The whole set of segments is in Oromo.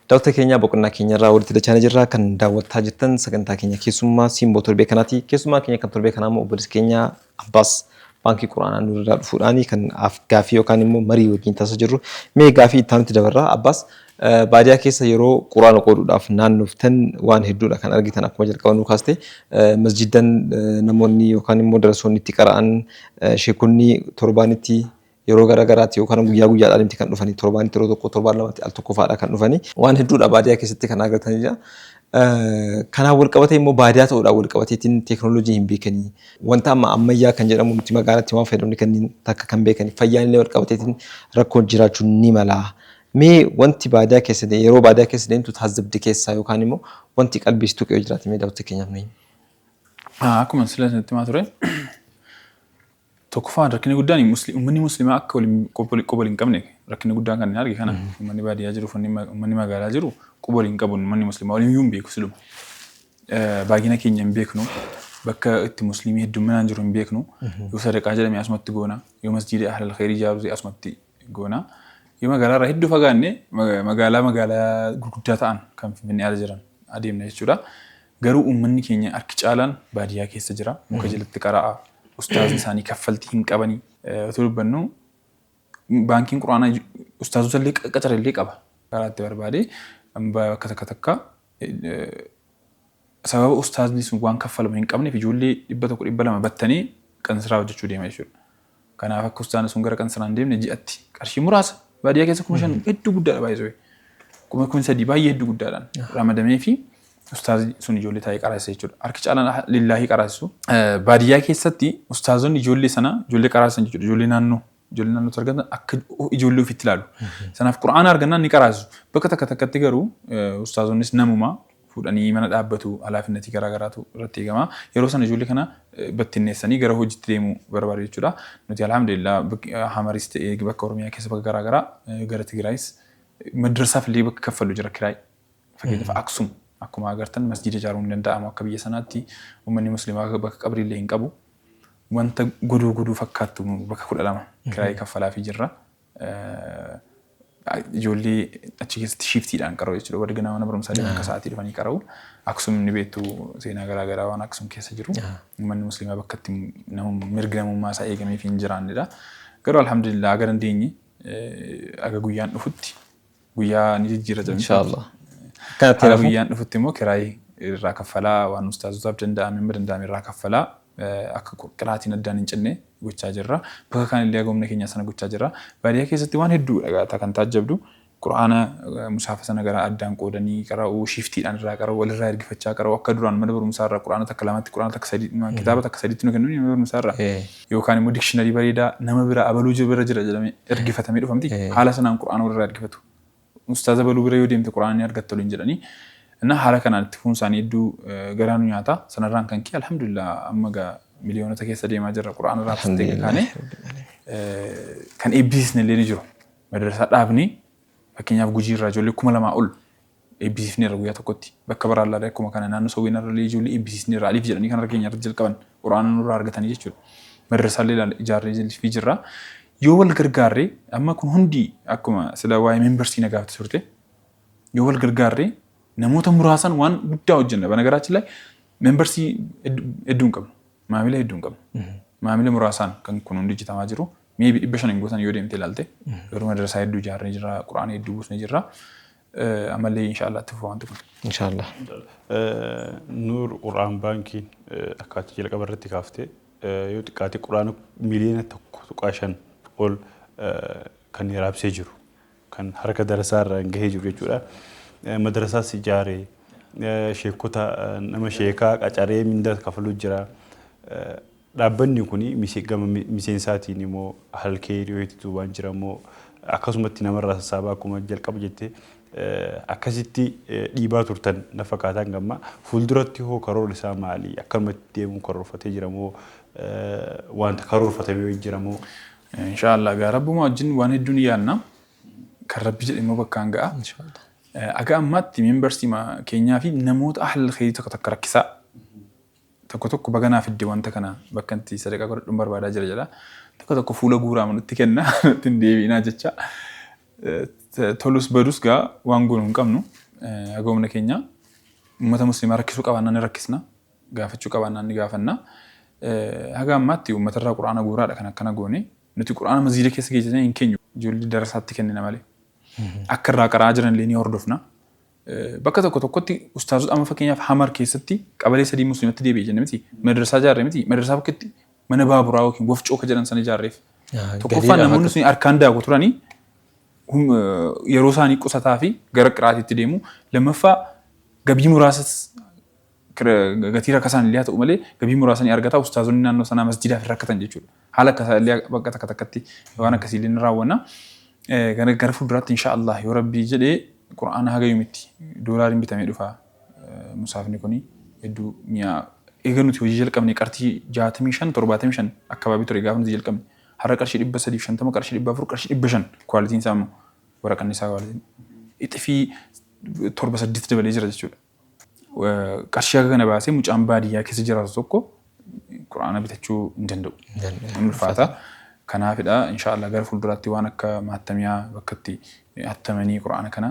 Daawwattoota keenya boqonnaa keenya irraa walitti dachaanii jirra. Kan daawwattaa jirtan sagantaa keenya keessummaa simboo torbee kanaati. Keessummaa keenya kan torbee kanaa immoo obboleessi keenya Abbaas baankii quraanaa nurraa dhufuudhaani kan af- gaaffii yookaan immoo marii wajjin taasisaa jirru. Mee gaaffii itti aanutti dabarra. Abbaas Baadiyaa keessa yeroo Qur'aana qooduudhaaf naannoftan waan hedduudha kan argitan akkuma jalqaba nuu kaaste. Masjiiddan namoonni yookaan immoo darasoonni itti qara'an, sheekonni torbaanitti yeroo gara garaatti yookaan guyyaa guyyaadhaan itti kan dhufani torbaanitti yeroo tokko torbaan lamatti al tokko fa'aadha kan dhufani. Waan hedduudha baadiyaa keessatti kan argatanidha. Kanaan wal qabatee immoo baadiyaa ta'uudhaan wal qabateetiin teeknooloojii hin beekani. Wanta amma ammayyaa kan jedhamu nuti magaalatti waan fayyadamne kanniin takka kan beekani. Fayyaan illee wal qabateetiin rakkoon jiraachuu ni mala. Mee wanti baadiyaa keessa deemtu yeroo baadiyaa keessa deemtu taazzabde keessaa yookaan immoo wanti qalbii si tuqe yoo jiraate mee daawwattota keenyaaf nu himi. Akkuma sila isinitti himaa ture tokkoffaa rakkinni guddaan uummanni musliimaa akka quba wal hin qabne rakkinni guddaan kan hin arge kana uummanni baadiyaa jiru uummanni magaalaa jiru quba wal hin qabu uummanni musliimaa waliin iyyuu hin beeku siluma. Baay'ina keenya hin beeknu bakka itti musliimii hedduminaan jiru hin beeknu yoo sadaqaa jedhame asumatti goona yoo masjiida ahlal khayrii ijaaruu asumatti goona. Yoo magaalaarraa hedduu fagaanne magaalaa magaalaa gurguddaa ta'an kan Finfinnee ala jiran adeemna jechuudha. Garuu uummanni keenya harki caalaan baadiyyaa keessa jira. Muka jalatti qara'a. Ustaazni isaanii kaffaltii hin qabani. Otoo dubbannu baankiin quraanaa ustaazota illee qacara illee qaba. Karaa itti barbaade bakka takka takka sababa ustaazni sun waan kaffalamu hin qabneef ijoollee dhibba tokko dhibba lama battanii kan siraa hojjechuu deema jechuudha. Kanaaf akka ustaana sun gara qansaraa hin deemne ji'atti qarshii muraasa baadiyyaa keessa kuma shan hedduu guddaadha baay'isuu. Kuma kun sadii baay'ee hedduu guddaadhaan ramadamee fi ustaazi sun ijoollee taa'ee qaraasisa jechuudha. Harki caalaan lillaahii qaraasisu. Baadiyyaa keessatti ustaazonni ijoollee sana ijoollee qaraasisan jechuudha. Ijoollee naannoo ijoollee naannootti argatan akka ijoollee ofiitti ilaalu. Sanaaf qura'aana argannaan ni qaraasisu. Bakka takka takkatti garuu ustaazonnis namuma fuudhanii mana dhaabbatu, halaafinnatii garaa garaatu irratti eegama. Yeroo sana ijoollee kana battinneessanii gara hojiitti deemuu barbaadu jechuudha. Nuti alhamdulillah Hamaris ta'ee bakka Oromiyaa keessa bakka garaa garaa gara Tigiraayis madrasaaf illee bakka kaffallu jira kiraay. Fakkeenyaaf Aksum akkuma agartan masjiida ijaaruun hin danda'amu akka biyya sanaatti uummanni muslimaa bakka qabrii illee hin qabu. Wanta godoo godoo fakkaattu bakka kudha lama kiraayii kaffalaa fi jirra. ijoollee achi keessatti shiiftiidhaan qara'u jechuudha. Warri ganaa mana barumsaa deeman akka sa'aatii dhufanii qara'u. Aksum ni beektu seenaa garaa garaa waan Aksum keessa jiru. Manni musliimaa bakka itti namum- mirgi namummaa isaa eegamee fi hin jiraannedha. Garuu alhamdulillah aga dandeenye eh, aga guyyaan dhufutti Guyyaa ni jijjiirrata. Inshaallah. Kanatti Haala guyyaan dhufutti immoo kiraay irraa kaffalaa waan ustaazotaaf danda'ame amma danda'ame irraa kaffalaa akka qiraatiin addaan hin cinne gochaa jirra. Bakka kaan illee agomna keenya sana gochaa jirra. Baadiyyaa keessatti waan hedduu dhagaata kan taajjabdu quraana musaafa sana gara addaan qoodanii qara'uu shiiftiidhaan irraa qara'uu walirraa ergifachaa qara'uu akka duraan mana barumsaa irraa quraana takka lamatti quraana takka sadii kitaaba takka sadiitti nu kennuun mana barumsaa irraa yookaan immoo dikshinari bareedaa nama bira abaluu jira bira jira jedhamee ergifatamee dhufa miti. Eh. Haala sanaan Qur'aana warra ergifatu. Ustaaza baluu bira yoo deemte Qur'aana ni argatta waliin jedhanii. Innaa haala kanaan itti fuun isaanii hedduu eh, garaa nu nyaata. Sanarraan kan kee alhamdulillah amma gaa miliyoonota keessa deemaa jirra Qur'aana irraa fistee Alhamdulillah. kaanee. Rabbil Aalamiin. Eh, kan eebbisiisne illee ni jiru. Madarsaa dhaabni fakkeenyaaf gujii irraa ijoollee kuma lamaa ol eebbisiifneerra guyyaa tokkotti bakka baraallaallee akkuma kana naannoo sawweenarrallee ijoollee eebbisiisneerra aliif jedhanii kan harka keenyarratti jalqaban qur'aana nurraa argatanii jechuudha madrasaallee ilaala ijaarree jilfii jirra yoo wal gargaarre amma kun hundi akkuma sila waa'ee membersii na gaafte turte yoo wal gargaarre namoota muraasan waan guddaa hojjenna banagaraachillee membersii hedduu hin qabnu maamila hedduu hin qabnu maamila muraasaan kan kun hundi hojjetamaa jiru meebi dhibba shan hin gootan yoo deemte ilaalte garuu madrasaa hedduu ijaarree jirra qur'aana hedduu buusnee jirra Amallee inshallah itti fufa wanti kun. Inshallah. Nuur Qur'aan baankiin akka ati jalqaba irratti kaafte yoo xiqqaate Qur'aana miliyoona tokko tuqaa shan ol kan raabsee jiru kan harka darasaa irraan gahee jiru jechuudha. Madarasaas ijaaree sheekota nama sheekaa qacaree mindaa kafaluu jira. Dhaabbanni kun gama miseensaatiin moo halkee dhiyootti duubaan jira moo akkasumatti namarraa sassaabaa akkuma jalqaba jette akkasitti dhiibaa turtan na fakkaata hanga ammaa. Fuulduratti hoo karoorri isaa maali? Akkanumatti deemuu karoorfatee jira moo wanta karoorfatame wayii jira moo? Inshaa Allah gaa rabbumaa wajjin waan hedduu ni yaadna. Kan rabbi jedhe immoo bakkaan ga'a. Aga ammaatti membersima keenyaa fi namoota ahlal kheyrii takka takka rakkisaa. tokko tokko baga naa fidde wanta kana bakka itti sadaqaa godhadhun barbaadaa jira jedha. Tokko tokko fuula guuraama nutti kenna nutti hin deebi'inaa jecha. Tolus badus gaa waan goonu hin qabnu haga humna keenya uummata musliimaa rakkisuu qabaannaan ni rakkisna gaafachuu qabaannaan ni gaafanna. Haga ammaatti uummatarraa quraana guuraadha kan akkana goone nuti quraana maziida keessa geessisnee hin keenyu ijoollee darasaatti kennina malee. Akka irraa qara'aa jiran illee ni hordofna. Bakka tokko tokkotti ustaazota amma fakkeenyaaf Hamar keessatti qabalee sadii musliimatti deebi'e jenne miti madrasaa jaarre miti madrasaa bakkeetti mana baaburaa yookiin wafcoo ka jedhan sana ijaarreef. Tokkoffaan namoonni sun harkaan daaku turanii yeroo isaanii qusataa fi gara qiraatiitti deemu. Lammaffaa gabii muraasas gatii rakasaan illee haa ta'u malee gabii muraasa ni argata. Ustaazonni naannoo sanaa masjidaaf hin rakkatan jechuudha. Haala akka isaa illee bakka takka takkatti waan akkasii illee ni raawwanna. Gara fuulduraatti insha Allah yoo rabbii jedhe qura'aana haga yomitti doolaariin bitamee dhufa musaafni kuni hedduu mi'aa eega nuti hojii jalqabne qartii 65 75 akkabaabii ture gaafa nuti jalqabne har'a qarshii 350 qarshii 400 qarshii 500 kwaalitiin isaa immoo waraqanni isaa kwaalitiin ixifii torba saddeet dabalee jira jechuudha. qarshii akka kana baasee mucaan baadiyyaa keessa jiraatu tokko quraana bitachuu hin danda'u. Hin ulfaata. Kanaafidha inshaallah gara fuulduraatti waan akka maattamiyaa bakka itti hattamanii quraana kana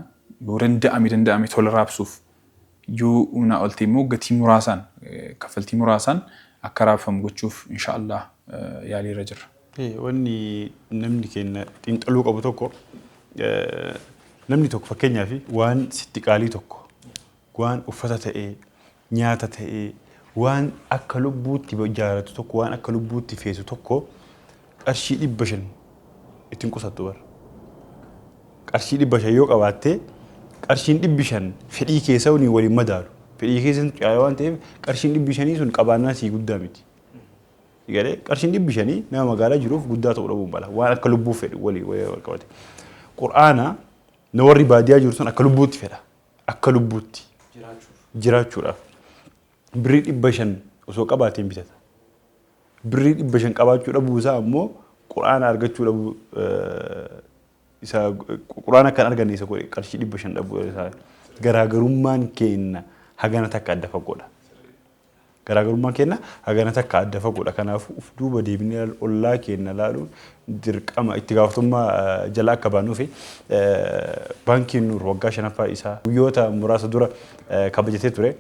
yoo danda'ame danda'ame tola raabsuuf yoo humnaa ol ta'e immoo gatii muraasaan kaffaltii muraasaan akka raabfamu gochuuf inshaallah yaaliirra jirra. Wanni namni keenya xiinxaluu qabu tokko namni tokko fakkeenyaaf waan sitti qaalii tokko waan uffata ta'ee nyaata ta'ee waan akka lubbuutti jaaratu tokko waan akka lubbuutti feetu tokko qarshii dhibba shan ittiin qusattu bara. Qarshii dhibba shan yoo qabaatte qarshiin dhibbi shan fedhii keessa waliin waliin madaalu. Fedhii keessa caalaa waan ta'eef qarshiin dhibbi shanii sun qabaannaan sii guddaa miti. Si galee qarshiin dhibbi shanii nama magaalaa jiruuf guddaa ta'uu dhabuu mala. Waan akka lubbuu fedhu walii walii wal qabate. Qur'aana na warri baadiyaa jiru sun akka lubbuutti fedha. Akka lubbuutti jiraachuudhaaf. Birrii dhibba shan osoo qabaatee hin bitata. Birrii dhibba shan qabaachuu dhabuu isaa ammoo qur'aana argachuu dhabuu eh, isa qur'aana kan arganne isa godhe qarshii dhibba shan dhabuu isaa garaagarummaan keenna hagana takka adda fagoodha. Garaagarummaan keenna hagana takka adda fagoodha. Kanaafuu uf duuba deebinee laaluun, ollaa keenna laaluun dirqama, itti gaafatamummaa jala akka baanuufi. Baankiin Nuur waggaa 5ffaa isaa guyyoota muraasa dura kabajatee ture.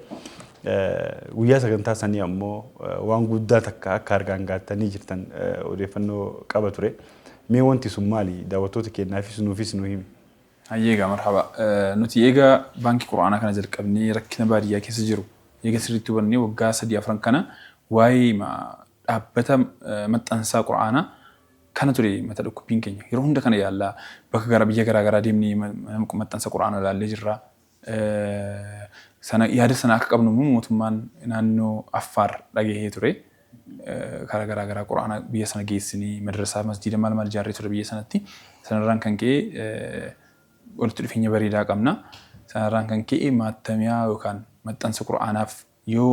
Guyyaa sagantaa sanii ammoo waan guddaa takka akka harkaan gahattanii jirtan odeeffannoo qaba ture. Mee wanti sun maali? Daawwattoota keennaafis nuufis nu himi. Hayyee egaa marhaba. Nuti eega baankii Qur'aanaa kana jalqabnee rakkina baadiyyaa keessa jiru eega sirriitti hubannee waggaa sadii afran kana waa'eema dhaabbata maxxansaa Qur'aanaa kana ture mata dhukkubbiin keenya. Yeroo hunda kana yaalla. Bakka gara biyya garaa garaa deemnee mana maxxansa Qur'aanaa ilaallee jirra. sana yaada sana akka qabnu immoo mootummaan naannoo Affaar dhagahee ture. Karaa garaa garaa Qur'aana biyya sana geessinee madrasaa masjiida maal maal ijaarree ture biyya sanatti. Sanarraan kan ka'e walitti dhufeenya bareedaa qabna. Sanarraan kan ka'e maattamiyaa yookaan maxxansa Qur'aanaaf yoo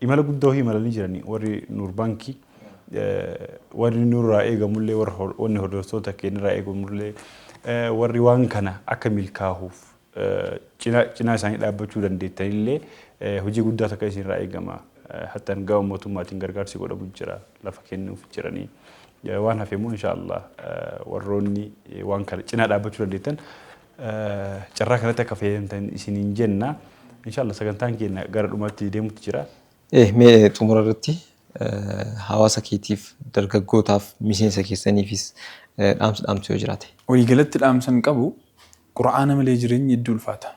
Imala guddaa ofii imalanii jiranii warri Nuur Baankii warri nurraa eegamullee warri hordoftoota keenyarraa eegamullee warri waan kana akka milkaahuuf cinaa isaanii dhaabbachuu dandeettanillee hojii guddaa takka isinirraa eegama. Hattan gama mootummaatiin gargaarsi godhamu jira lafa kennuuf jiranii waan hafe immoo inshaa Allah warroonni waan kana cinaa dhaabbachuu dandeettan Carraa kanatti akka fayyadamtan isiniin jenna. Inshaallah sagantaan keenya gara dhumaatti deemutti jira. Eh, mee xumura irratti hawaasa keetiif, dargaggootaaf, miseensa keessaniifis dhaamsa dhaamtu yoo jiraate? Waliigalatti dhaamsan qabu Qur'aana malee jireenyi hedduu ulfaata.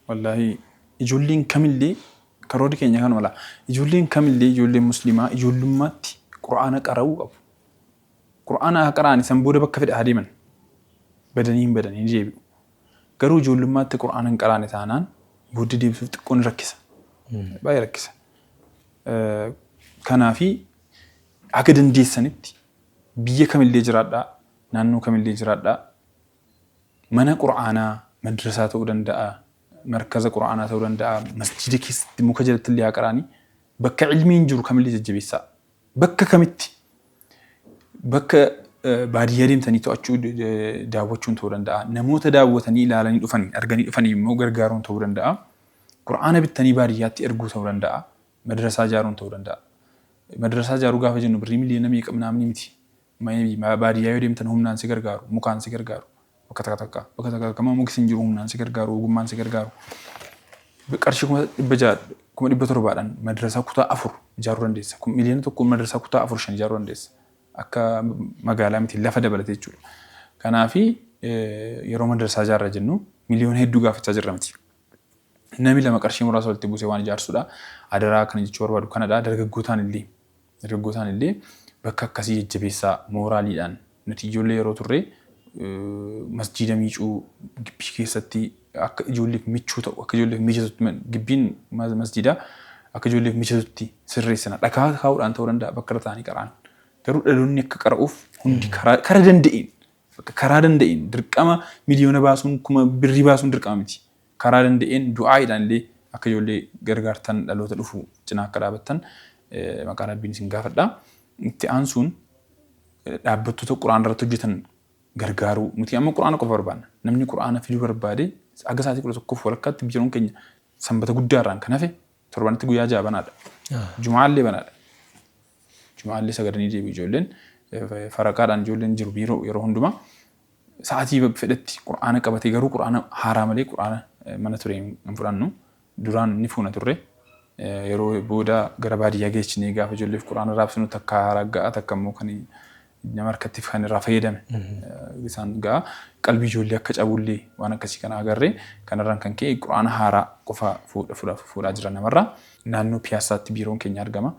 Wallaahii ijoolleen kamillee karoorri keenya kanuma laa. Ijoolleen kamillee ijoolleen muslimaa ijoollummaatti Qur'aana qara'uu qabu. Qur'aana haa qara'ani san booda bakka fedhe haa deeman badanii hin badani ni deebi'u. Garuu ijoollummaatti Qur'aana hin qaraane taanaan booddee deebisuuf xiqqoo ni rakkisa. Baay'ee rakkisa. Kanaafi haga dandeessanitti biyya kamillee jiraadhaa, naannoo kamillee jiraadhaa mana Qur'aanaa madrasaa ta'uu danda'a, markaza Qur'aanaa ta'uu danda'a, masjiida keessatti muka jalattillee haa qara'ani bakka ilmiin jiru kamillee jajjabeessaa. Bakka kamitti? Bakka baadiyyaa deemtanii to'achuu daawwachuun ta'uu danda'a. Namoota daawwatanii ilaalanii dhufaniin arganii dhufanii immoo gargaaruun ta'uu danda'a. Qur'aana bittanii baadiyyaatti erguu ta'uu danda'a. Madrasaa ijaaruun ta'uu danda'a. Madrasaa ijaaruu gaafa jennu birrii miliyoona meeqa miti. Maybe baadiyyaa yoo deemtan humnaan si gargaaru, mukaan si gargaaru, bakka takka takka, bakka takka takka immoo mukis hin jiru humnaan si gargaaru, ogummaan si gargaaru. Qarshii kuma dhibba ja'a, kuma dhibba torbaadhaan madrasaa kutaa afur ijaaruu dandeessa. Kun miliyoona tokkoon madrasaa kutaa afur shan ijaaruu dandeessa. Akka magaalaa miti lafa dabalatee jechuudha. Kanaafi yeroo madrasaa ijaarra jennu miliyoona hedduu gaafachaa jirra miti. Nami lama qarshii muraasa walitti buusee waan ijaarsuudha. Adaraa kana jechuu barbaadu kanadha. Dargaggootaan illee Dargaggootaan illee bakka akkasii jajjabeessaa mooraaliidhaan nuti ijoollee yeroo turre masjiida miicuu gibbii keessatti akka ijoolleef michuu ta'u akka ijoolleef mijatutti gibbiin masjiidaa akka ijoolleef mijatutti sirreessina dhakaa kaa'uudhaan ta'uu danda'a bakka irra ta'anii qara'an garuu dhaloonni akka qara'uuf hundi karaa kara danda'een bakka karaa danda'een dirqama miliyoona baasuun kuma birrii baasuun dirqama miti Karaa danda'een du'aa'iidhaan illee akka ijoollee gargaartan dhaloota dhufu cinaa akka dhaabattan maqaa Rabbiin isin gaafadha. Itti aansuun dhaabbattoota Qur'aana irratti hojjetan gargaaruu. Nuti amma Qur'aana qofa barbaanna. Namni Qur'aana fiduu barbaade haga sa'aatii 11 fi walakkaatti biiroon keenya Sanbata guddaa irraan kan hafe Torbanitti guyyaa ja'a banaadha. Jumaallee banaadha. Jumaallee sagadanii deebi'u ijoolleen faraqaadhaan ijoolleen jiru biiroo yeroo hundumaa sa'aatii fedhetti qura'aana qabatee garuu qura'aana haaraa malee qura'aana mana ture hin fudhannu duraan ni fuuna turre yeroo booda gara baadiyyaa geechinee gaafa ijoolleef qura'aana raabsinu takka ragga'aa takka immoo kan nama harkattiif kan irraa fayyadame isaan ga'a. Qalbii ijoollee akka cabullee waan akkasii kana agarre kanarraan kan ka'e quraana haaraa qofa fuudhaa jira namarraa. Naannoo Piyaassaatti biiroon keenya argama.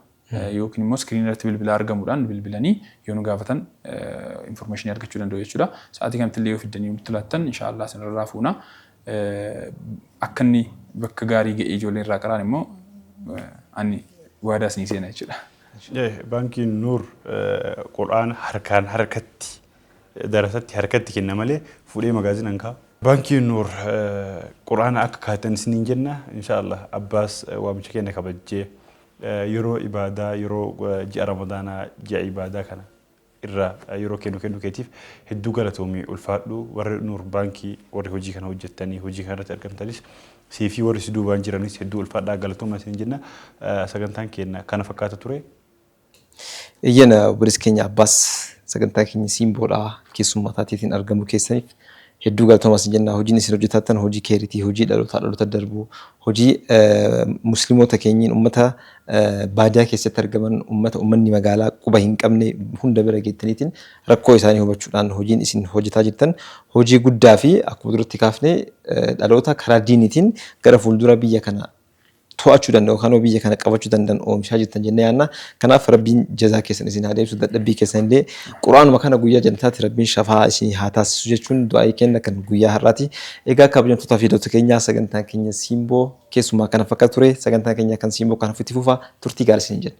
Yookiin immoo iskiriinii irratti bilbila argamuudhaan bilbilanii yoo nu gaafatan informeeshinii argachuu danda'u jechuudha. Sa'aatii kanatti illee yoo fiddanii nutti laattan inshaallah isinirraa fuuna. akka inni bakka gaarii ga'ee ijoolleen irraa qaraan immoo ani waadaa isinii seena jechuudha. Baankiin Nuur Qur'aana harkaan harkatti darasatti harkatti kenna malee fuudhee magaazina hin kaa'u. Baankiin Nuur Qur'aana akka kaa'attan isiniin jenna. Inshaa Allaah abbaas waamicha keenya kabajjee yeroo ibaadaa yeroo ji'a Ramadaanaa ji'a ibaadaa kana irra yeroo kee nu kennu keetiif hedduu galatoomi ulfaadhu warri nuur baankii warri hojii kana hojjettanii hojii kana irratti argamtanis siifii warri si duubaan jiranis hedduu ulfaadhaa galatooma isiniin jenna sagantaan keenna kana fakkaata ture. Eyyeen obboleessa keenya Abbaas sagantaa keenya Siimboodhaa keessummaa taateetiin argamuu keessaniif Hedduu galtoma sin jenna hojiin isin hojjetaattan hojii keeritii hojii dhalotaa dhalota darbu hojii muslimota keenyin ummata baadiyaa keessatti argaman ummata ummanni magaalaa quba hin qabne hunda bira geettaniitin rakkoo isaanii hubachuudhaan hojiin isin hojjetaa jirtan hojii guddaa fi akkuma duratti kaafne dhaloota karaa diiniitiin gara fuuldura biyya kana to'achuu danda'u kanoo biyya kana qabachuu danda'an oomishaa jirtan jennee yaanna. Kanaaf Rabbiin jazaa keessan isin haa deebisu dadhabbii keessan illee Qur'aanuma kana guyyaa janataatti Rabbiin shafaa isin haa taasisu jechuun du'aa'ii kenna kan guyyaa har'aati. Egaa kabajamtoota fi hidhoota keenyaa sagantaan keenya siimboo keessumaa kana fakkaata ture sagantaan keenya kan siimboo kanaaf itti fufa turtii gaarii isin jenna.